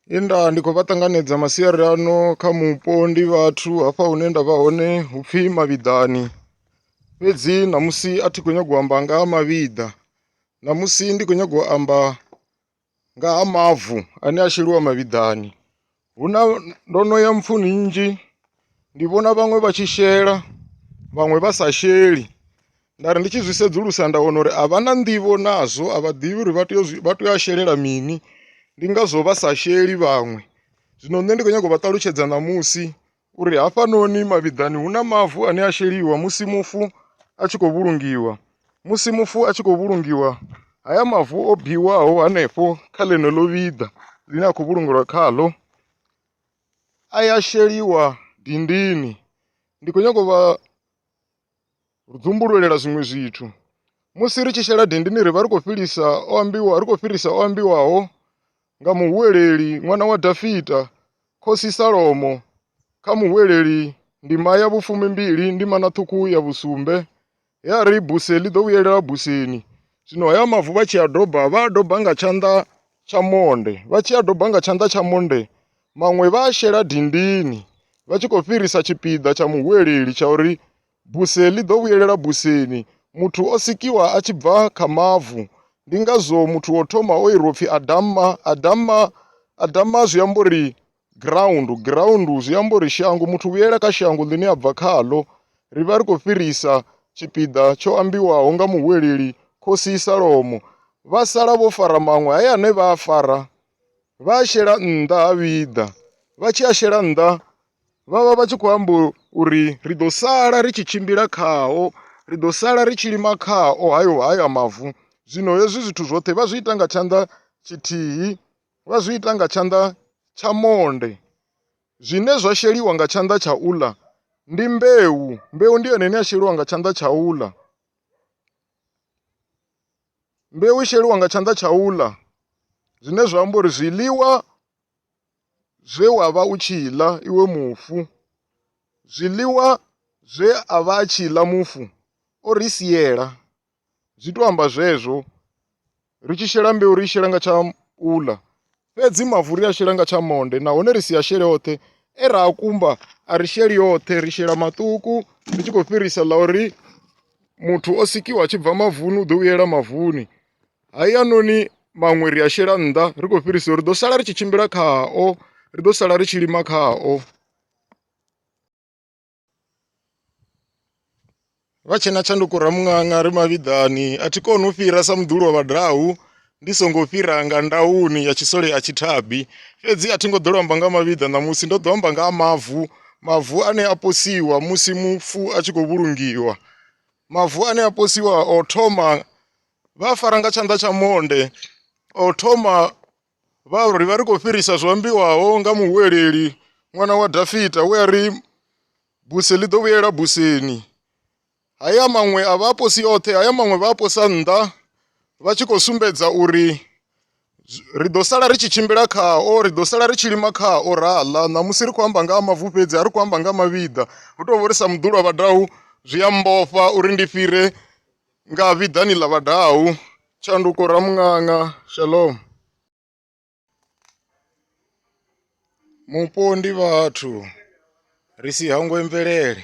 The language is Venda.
He nda ndi khou vha ṱanganedza masiari ano kha mupo ndi vhathu hafha hune nda vha hone hu pfhi mavhiḓani fhedzi ṋamusi a thi khou nyanga u amba nga ha mavhiḓa ṋamusi ndi khou nyanga u amba nga ha mavu ane a sheliwa mavhiḓani hu na ndo no ya mpfuni nnzhi ndi vhona vhaṅwe vha tshi shela vhaṅwe vha sa sheli nda ri ndi tshi zwi sedzulusa nda wana uri a vha na nḓivho nazwo a vha ḓivhi uri vha tea vha tea u shelela mini ndi ngazwo vha sa sheli vhaṅwe zwino nṋe ndi kho nyaga u vha ṱalutshedza ṋamusi uri hafhanoni mavhiḓani hu na mavu ane a sheliwa musi mufu a tshi khou vhulungiwa musi mufu a tshi khou vhulungiwa haya mavu o biwaho hanefho kha ḽeneḽo vhiḓa ḽine a khou vhulungelwa khaḽo a ya sheliwa dindini ndi khou nyanga u vha ri dzumbululela zwiṅwe zwithu musi ri tshi shela dindini ri vha ri khou fhilisa o ambiwa ri khou fhirisa o ambiwaho nga muhuweleli ṅwana wa dafita khosi salomo kha muhuweleli ndima ya vhufumi mbili ndima na ṱhukhu ya vhusumbe he a ri buse ḽi ḓo vhuyelela buseni zwino haya mavu vha tshi a doba vha a doba nga tshanḓa tsha monde vha tshi a doba nga tshanḓa tsha monde maṅwe vha a shela dindini vha tshi khou fhirisa tshipiḓa tsha muhuweleli tsha uri Buse ḽi ḓo vhuyelela buseni. Muthu o sikiwa a tshi bva kha mavu. Ndi ngazwo muthu wo thoma o irwa upfi Adama. Adama, Adama zwi amba uri ground. Ground zwi amba uri shango. Muthu vhuyela kha shango ḽine a bva khaḽo. Ri vha ri khou fhirisa tshipiḓa tsho ambiwaho nga muhuweleli Khosi Salomo. Vha sala vho fara maṅwe haya ane vha a fara vha a shela nnḓa ha vhiḓa. Vha tshi a shela nnḓa vha vha vha tshi khou amba uri ri ḓo sala ri tshi tshimbila khao ri ḓo sala ri tshi lima khao hayo haya mavu zwino hezwi zwithu zwoṱhe vha zwi ita nga tshanḓa tshithihi vha zwi ita nga tshanḓa tsha monde zwine zwa sheliwa nga tshanḓa tsha uḽa ndi mbeu mbeu ndi yone ine ya sheliwa nga tshanḓa tsha uḽa mbeu i sheliwa nga tshanḓa tsha uḽa zwine zwa amba uri zwiḽiwa zwe wa vha u tshi ḽa iwe mufu, zwiḽiwa zwe a vha a tshi ḽa mufu o ri siela. Zwi tou amba zwezwo, ri tshi shela mbeu ri i shela nga tsha u ḽa, fhedzi mavu ri a shela nga tsha monde nahone ri si a shele oṱhe e ra a kumba, a ri sheli oṱhe, ri shela maṱuku ri tshi khou fhirisa ḽa uri muthu o sikiwa a tshi bva mavuni u ḓo vhuyela mavuni. hayanoni maṅwe ri a shela nnḓa ri khou fhirisa uri ḓo sala ri tshi tshimbila khao ri ḓo sala ri tshi lima khao vha tshe na tshanduko ramuṅanga ri mavhiḓani a thi koni u fhira sa muḓulu wa vhadau ndi songo fhira nga ndauni ya tshisole a tshithabi fhedzi a thi ngo ḓo lwamba nga mavhiḓa ṋamusi ndo ḓo amba nga ha mavu mavu ane a posiwa musi mufu a tshi khou vhulungiwa mavu ane a posiwa o thoma vha fara nga tshanḓa tsha monde o thoma vha ri vha ri khou fhirisa zwo ambiwaho nga muhuweleli ṅwana wa dafita we a ri buse ḽi ḓo vhuyela buseni haya maṅwe a vha aposi oṱhe haya maṅwe vha aposa nnḓa vha tshi khou sumbedza uri ri ḓo sala ri tshi tshimbila khao ri ḓo sala ri tshi lima khao ra ḽa ṋamusi ri khou amba nga ha mavu fhedzi a ri khou amba nga mavhiḓa hu tou vho ri sa muḓulwa vhadau zwi a mbofha uri ndi fhire Nga vhiḓani ḽa vhadau, tshanduko Ramuṅaṅa Shalom. Mupo ndi vhathu ri si hangwe mvelele.